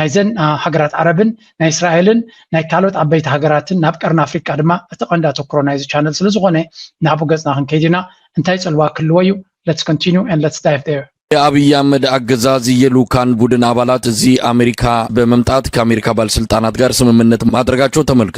ናይዘን ሃገራት ዓረብን ናይ እስራኤልን ናይ ካልኦት ዓበይቲ ሃገራትን ናብ ቀርኒ ኣፍሪቃ ድማ እቲ ቀንዲ ኣተኩሮ ናይዚ ቻነል ስለዝኾነ ናብኡ ገጽና ክንከይድ ኢና እንታይ ጽልዋ ክህልዎ እዩ let's continue and let's dive there የኣብይ ኣህመድ ኣገዛዝ የልኡካን ቡድን ኣባላት እዚ ኣሜሪካ በመምጣት ከኣሜሪካ ባልስልጣናት ጋር ስምምነት ማድረጋቸው ተመልክቷል።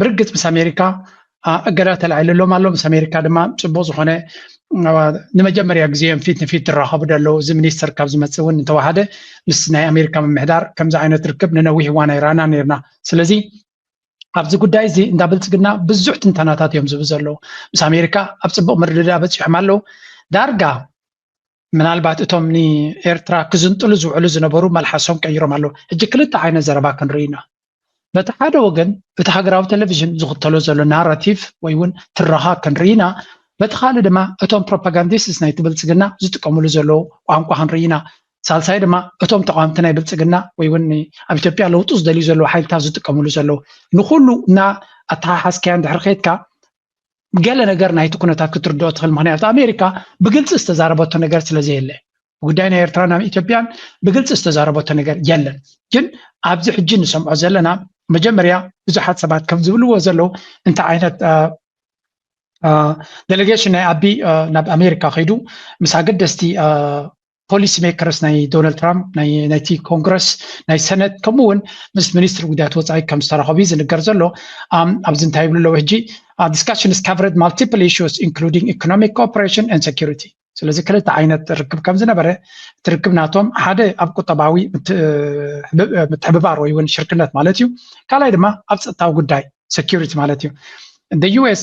ብርግጽ ምስ ኣሜሪካ እገዳ ተላዒልሎም ኣሎ ምስ ኣሜሪካ ድማ ፅቡቅ ዝኮነ ንመጀመርያ ግዜ እዮም ፊት ንፊት ዝራኸቡ ደለዉ እዚ ሚኒስተር ካብ ዝመፅእ እውን እንተዋሃደ ምስ ናይ ኣሜሪካ ምምሕዳር ከምዚ ዓይነት ርክብ ንነዊሕ እዋን ኣይረኣና ነርና ስለዚ ኣብዚ ጉዳይ እዚ እንዳ ብልፅግና ብዙሕ ትንተናታት እዮም ዝህቡ ዘለዉ ምስ ኣሜሪካ ኣብ ፅቡቅ ምርድዳ በፂሖም ኣለዉ ዳርጋ ምናልባት እቶም ንኤርትራ ክዝንጥሉ ዝውዕሉ ዝነበሩ መልሓሶም ቀይሮም ኣለዉ። ሕጂ ክልተ ዓይነት ዘረባ ክንርኢ ኢና። በቲ ሓደ ወገን እቲ ሃገራዊ ቴሌቪዥን ዝኽተሎ ዘሎ ናራቲቭ ወይ እውን ትረኻ ክንርኢ ኢና። በቲ ካልእ ድማ እቶም ፕሮፓጋንዲስትስ ናይቲ ብልጽግና ዝጥቀምሉ ዘለዉ ቋንቋ ክንርኢ ኢና። ሳልሳይ ድማ እቶም ተቓወምቲ ናይ ብልጽግና ወይ እውን ኣብ ኢትዮጵያ ለውጢ ዝደልዩ ዘለዉ ሓይልታት ዝጥቀምሉ ዘለዉ ንኹሉ እና ኣተሓሓዝካዮ እንድሕር ከይድካ ገለ ነገር ናይቲ ኩነታት ክትርድኦ ትኽእል ምክንያቱ ኣሜሪካ ብግልፂ ዝተዛረበቶ ነገር ስለ ዘየለ ጉዳይ ናይ ኤርትራ ናብ ኢትዮጵያን ብግልፂ ዝተዛረበቶ ነገር የለን ግን ኣብዚ ሕጂ ንሰምዖ ዘለና መጀመርያ ብዙሓት ሰባት ከም ዝብልዎ ዘለዉ እንታይ ዓይነት ዴሌጌሽን ናይ ኣቢ ናብ ኣሜሪካ ከይዱ ምስ ኣገደስቲ ፖሊሲ ሜከርስ ናይ ዶናልድ ትራምፕ ናይቲ ኮንግረስ ናይ ሰነት ከምኡ እውን ምስ ሚኒስትሪ ጉዳያት ወፃኢ ከም ዝተረኸቡ እዩ ዝንገር ዘሎ ኣብዚ እንታይ ይብሉ ኣለዉ ሕጂ ዲስካሽንስ ካቨረድ ማልቲፕል ኢሹስ ኢንክሉዲንግ ኢኮኖሚክ ኮኦፐሬሽን ን ሴኪሪቲ ስለዚ ክልተ ዓይነት ርክብ ከም ዝነበረ እቲ ርክብ ናቶም ሓደ ኣብ ቁጠባዊ ምትሕብባር ወይ እውን ሽርክነት ማለት እዩ ካልኣይ ድማ ኣብ ፀጥታዊ ጉዳይ ሴኪሪቲ ማለት እዩ ዩኤስ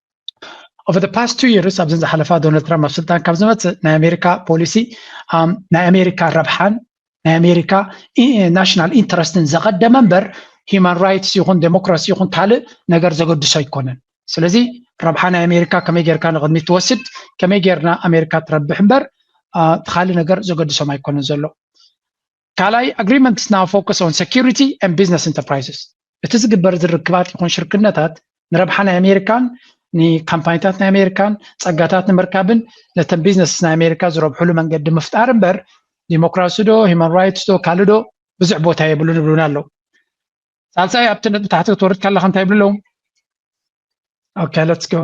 ኦቨር ፓስት ቱ ይርስ ኣብዘን ዝሓለፋ ዶናልድ ትራምፕ ኣብ ስልጣን ካብ ዝመፅእ ናይ ኣሜሪካ ፖሊሲ ናይ ኣሜሪካ ረብሓን ናይ ኣሜሪካ ናሽናል ኢንተረስትን ዘቐደመ እምበር ሂማን ራይትስ ይኹን ዴሞክራሲ ይኹን ካልእ ነገር ዘገድሶ ኣይኮነን ስለዚ ረብሓ ናይ ኣሜሪካ ከመይ ጌርካ ንቕድሚት ትወስድ ከመይ ጌርና ኣሜሪካ ትረብሕ እምበር እቲ ካልእ ነገር ዘገድሶም ኣይኮነን ዘሎ ካልኣይ ኣግሪመንትስ ናው ፎከስ ኦን ሰኪሪቲ ኣንድ ቢዝነስ ኢንተርፕራይዝስ እቲ ዝግበር ዝርክባት ይኹን ሽርክነታት ንረብሓ ናይ ኣሜሪካን ንካምፓኒታት ናይ ኣሜሪካን ፀጋታት ንምርካብን ነተን ቢዝነስ ናይ ኣሜሪካ ዝረብሕሉ መንገዲ ምፍጣር እምበር ዲሞክራሲ ዶ ሂማን ራይትስ ዶ ካልእ ዶ ብዙሕ ቦታ የብሉን ይብሉና ኣለዉ ሳልሳይ ኣብቲ ነጥቢ ታሕቲ ክትወርድ ከለካ እንታይ ይብሉ ኣለዉ ኦኬ ሌትስ ጎ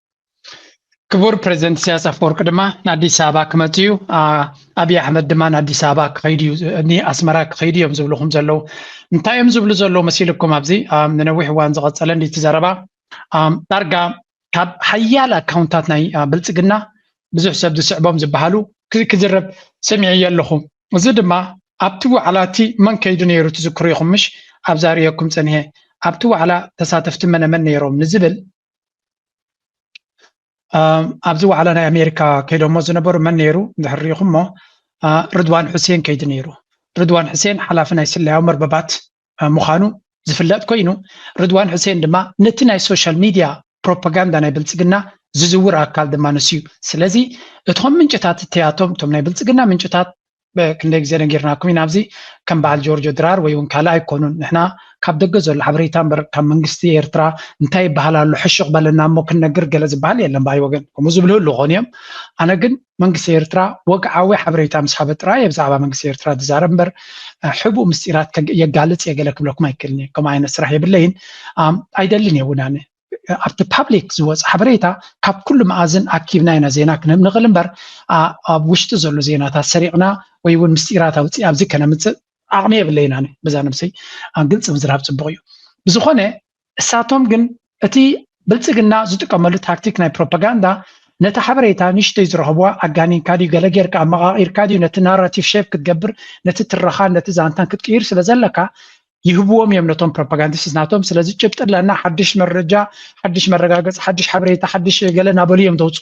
ክቡር ፕሬዚደንት ኢሳያስ ኣፈወርቂ ድማ ንኣዲስ ኣበባ ክመፅ እዩ ኣብዪ ኣሕመድ ድማ ንኣዲስ ኣበባ ክኸይድ እዩ ንኣስመራ ክኸይዱ እዮም ዝብልኹም ዘለዉ እንታይ እዮም ዝብሉ ዘለዉ መሲልኩም ኣብዚ ንነዊሕ እዋን ዝቐፀለ እንዲቲ ዘረባ ዳርጋ ካብ ሓያል ኣካውንታት ናይ ብልፅግና ብዙሕ ሰብ ዝስዕቦም ዝበሃሉ ክዝረብ ሰሚዐ ኣለኹ እዚ ድማ ኣብቲ ዋዕላ እቲ መን ከይዱ ነይሩ ትዝክሩ ኢኹም ምሽ ኣብዛ ርእየኩም ፀኒሐ ኣብቲ ዋዕላ ተሳተፍቲ መነመን ነይሮም ንዝብል ኣብዚ ዋዕላ ናይ ኣሜሪካ ከይዶሞ ዝነበሩ መን ነይሩ እንድሕር ሪኢኹሞ ርድዋን ሕሴን ከይዲ ነይሩ ርድዋን ሕሴን ሓላፊ ናይ ስለያዊ መርበባት ምዃኑ ዝፍለጥ ኮይኑ ርድዋን ሕሴን ድማ ነቲ ናይ ሶሻል ሚድያ ፕሮፓጋንዳ ናይ ብልፅግና ዝዝውር ኣካል ድማ ንሱ እዩ ስለዚ እቶም ምንጭታት እትያቶም እቶም ናይ ብልፅግና ምንጭታት ክንደይ ግዜ ነጊርናኩም ኢና ኣብዚ ከም በዓል ጆርጆ ድራር ወይ እውን ካልእ ኣይኮኑን ንሕና ካብ ደገ ዘሎ ሓበሬታ እምበር ካብ መንግስቲ ኤርትራ እንታይ ይበሃል ኣሎ ሕሹቕ በለና እሞ ክንነግር ገለ ዝበሃል የለን ባይ ወገን ከምኡ ዝብሉ ህሉ ኾኑ እዮም ኣነ ግን መንግስቲ ኤርትራ ወግዓዊ ሓበሬታ ምስ ሃበ ጥራይ እየ ብዛዕባ መንግስቲ ኤርትራ ዝዛረብ እምበር ሕቡእ ምስጢራት የጋልፅ እየ ገለ ክብለኩም ኣይክእልን እየ ከምኡ ዓይነት ስራሕ የብለይን ኣይደልን እየ እውን ኣነ ኣብቲ ፓብሊክ ዝወፅ ሓበሬታ ካብ ኩሉ መኣዝን ኣኪብና ኢና ዜና ክንህብ ንኽእል እምበር ኣብ ውሽጢ ዘሎ ዜናታት ሰሪቕና ወይ እውን ምስጢራት ኣውፅእ ኣብዚ ከነምፅእ ዓቕሚ የብለይን ኣነ በዛ ነብሰይ ግልፂ ምዝራብ ፅቡቕ እዩ ብዝኾነ እሳቶም ግን እቲ ብልፅግና ዝጥቀመሉ ታክቲክ ናይ ፕሮፓጋንዳ ነቲ ሓበሬታ ንሽተይ ዝረኸብዋ ኣጋኒንካ ድዩ ገለ ጌርካ ኣመቓቒርካ ድዩ ነቲ ናራቲቭ ሸፕ ክትገብር ነቲ ትረኻን ነቲ ዛንታን ክትቅይር ስለ ዘለካ ይህብዎም እዮም ነቶም ፕሮፓጋንዲስት ናቶም ስለዚ ጭብጢ ኣለና ሓድሽ መረጃ ሓድሽ መረጋገፂ ሓድሽ ሓበሬታ ሓድሽ ገለ እናበሉ እዮም ተውፁ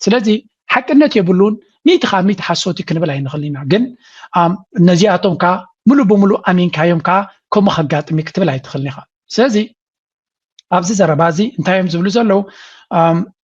ስለዚ ሓቅነት የብሉን ሚእቲ ካብ ሚእቲ ሓሶቲ ክንብል ኣይንኽእል ኢና ግን ነዚኣቶም ከዓ ሙሉእ ብምሉእ ኣሚንካዮም ከዓ ከምኡ ከጋጥም እዩ ክትብል ኣይትኽእልን ኢኻ ስለዚ ኣብዚ ዘረባ እዚ እንታይ እዮም ዝብሉ ዘለዉ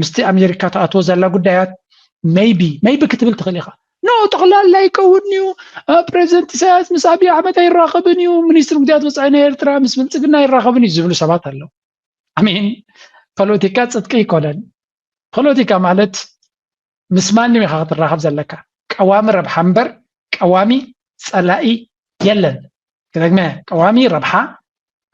ምስቲ ኣሜሪካ ትኣትዎ ዘላ ጉዳያት መይቢ መይቢ ክትብል ትኽእል ኢኻ ኖ ጠቕላላ ይከውን እዩ ፕሬዚደንት ኢሳያስ ምስ ኣብዪ ኣሕመድ ኣይራኸብን እዩ ሚኒስትሪ ጉዳያት ወፃኢ ናይ ኤርትራ ምስ ብልፅግና ኣይራኸብን እዩ ዝብሉ ሰባት ኣለዉ ኣሜን ፖለቲካ ፅድቂ ኣይኮነን ፖለቲካ ማለት ምስ ማንም ኢኻ ክትራኸብ ዘለካ ቀዋሚ ረብሓ እምበር ቀዋሚ ጸላኢ የለን ክደግመ ቀዋሚ ረብሓ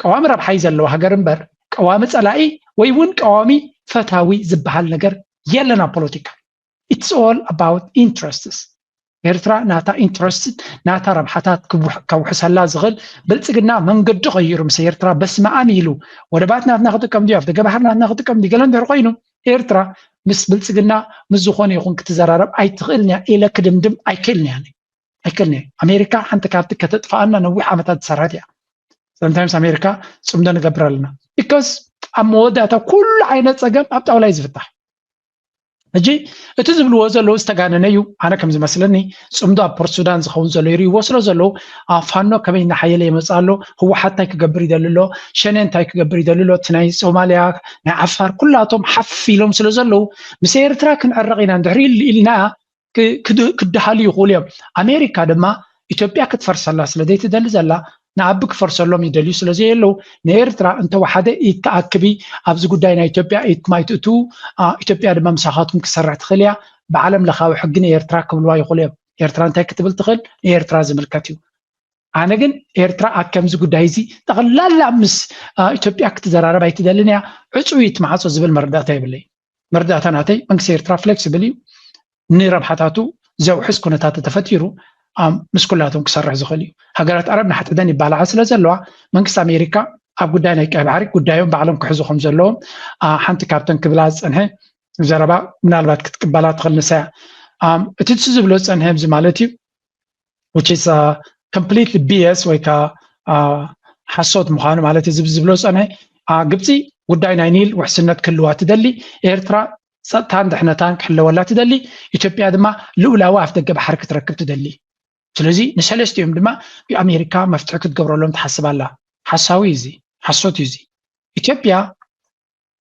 ቀዋሚ ረብሓ እዩ ዘለዎ ሃገር እምበር ቀዋሚ ጸላኢ ወይ እውን ቀዋሚ ፈታዊ ዝበሃል ነገር የለን ኣብ ፖለቲካ ኢትስ ኦል ኣባውት ኢንትረስትስ ኤርትራ ናታ ኢንትረስት ናታ ረብሓታት ከውሕሰላ ዝኽእል ብልፅግና መንገዲ ቀይሩ ምስ ኤርትራ በስመ ኣም ኢሉ ወደባት ናትና ክጥቀም ድዩ ኣብደገ ባሕሪ ናትና ክጥቀም ድዩ ገለ እንድሕር ኮይኑ ኤርትራ ምስ ብልፅግና ምስ ዝኾነ ይኹን ክትዘራረብ ኣይትኽእልን እያ ኢለ ክድምድም ኣይክእልን እያ ኣይክእልን እያ ኣሜሪካ ሓንቲ ካብቲ ከተጥፍኣና ነዊሕ ዓመታት ዝሰራት እያ ሰምታይምስ ኣሜሪካ ፅምዶ ንገብር ኣለና ቢካስ ኣብ መወዳእታ ኩሉ ዓይነት ፀገም ኣብ ጣውላ እዩ ዝፍታሕ ሕጂ እቲ ዝብልዎ ዘለዉ ዝተጋነነ እዩ ኣነ ከም ዝመስለኒ ፅምዶ ኣብ ፖርት ሱዳን ዝኸውን ዘሎ ይርእይዎ ስለ ዘለዉ ኣብ ፋኖ ከመይ እናሓየለ ይመፅ ኣሎ ህወሓት እንታይ ክገብር ይደሊ ኣሎ ሸነ እንታይ ክገብር ይደሊ ኣሎ እቲ ናይ ሶማልያ ናይ ዓፋር ኩላቶም ሓፍ ኢሎም ስለ ዘለዉ ምስ ኤርትራ ክንዕረቕ ኢና እንድሕሪ ኢልና ክደሃሉ ይኽእሉ እዮም። ኣሜሪካ ድማ ኢትዮጵያ ክትፈርሰላ ስለ ዘይትደሊ ዘላ ንኣቢ ክፈርሰሎም ይደልዩ ስለ ዘየለዉ ንኤርትራ እንተወሓደ ኢድ ትኣክቢ ኣብዚ ጉዳይ ናይ ኢትዮጵያ ኢድኩም ኣይትእትዉ ኢትዮጵያ ድማ ምሳኻትኩም ክሰርሕ ትኽእል እያ ብዓለም ለኻዊ ሕጊ ንኤርትራ ክብልዋ ይኽእሉ እዮም ኤርትራ እንታይ ክትብል ትኽእል ንኤርትራ ዝምልከት እዩ ኣነ ግን ኤርትራ ኣብ ከምዚ ጉዳይ እዚ ጠቕላላ ምስ ኢትዮጵያ ክትዘራረብ ኣይትደልን እያ ዕፅዊት ማዕፆ ዝብል መረዳእታ ይብለይ መረዳእታ ናተይ መንግስቲ ኤርትራ ፍሌክስብል እዩ ንረብሓታቱ ዘውሕስ ኩነታት ተፈጢሩ ምስ ኩላቶም ክሰርሕ ዝኽእል እዩ ሃገራት ኣረብ ንሓተደን ይባላዓ ስለ ዘለዋ መንግስቲ ኣሜሪካ ኣብ ጉዳይ ናይ ቀይ ባሕሪ ጉዳዮም ባዕሎም ክሕዙ ከም ዘለዎም ሓንቲ ካብተን ክብላ ዝፀንሐ ዘረባ ምናልባት ክትቅበላ ትኽእል ንሳያ እቲ ዝብሎ ዝፀንሐ እዚ ማለት እዩ which is a completely BS ወይ ከዓ ሓሶት ምዃኑ ማለት እዚ ዝብሎ ፀነ ግብፂ ጉዳይ ናይ ኒል ውሕስነት ክህልዋ ትደሊ ኤርትራ ፀጥታን ድሕነታን ክሕለወላ ትደሊ ኢትዮጵያ ድማ ልኡላዊ ኣፍ ደገ ባሕሪ ክትረክብ ትደሊ ስለዚ ንሰለስቲኦም ድማ ኣሜሪካ መፍትሒ ክትገብረሎም ትሓስብ ኣላ ሓሳዊ እዩ እዚ ሓሶት እዩ እዚ ኢትዮጵያ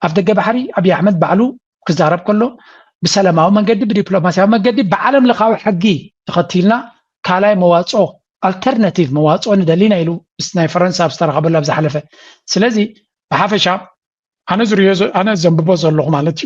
ኣፍደገ ባሕሪ ኣብይ ኣሕመድ ባዕሉ ክዛረብ ከሎ ብሰላማዊ መንገዲ ብዲፕሎማስያዊ መንገዲ ብዓለም ለኻዊ ሕጊ ተኸቲልና ካልኣይ መዋፅኦ ኣልተርናቲቭ መዋፅኦ ንደሊና ኢሉ ምስ ናይ ፈረንሳ ኣብ ዝተረኸበሉ ኣብ ዝሓለፈ ስለዚ ብሓፈሻ ኣነ ዝሪኦ ኣነ ዘንብቦ ዘለኹ ማለት እዩ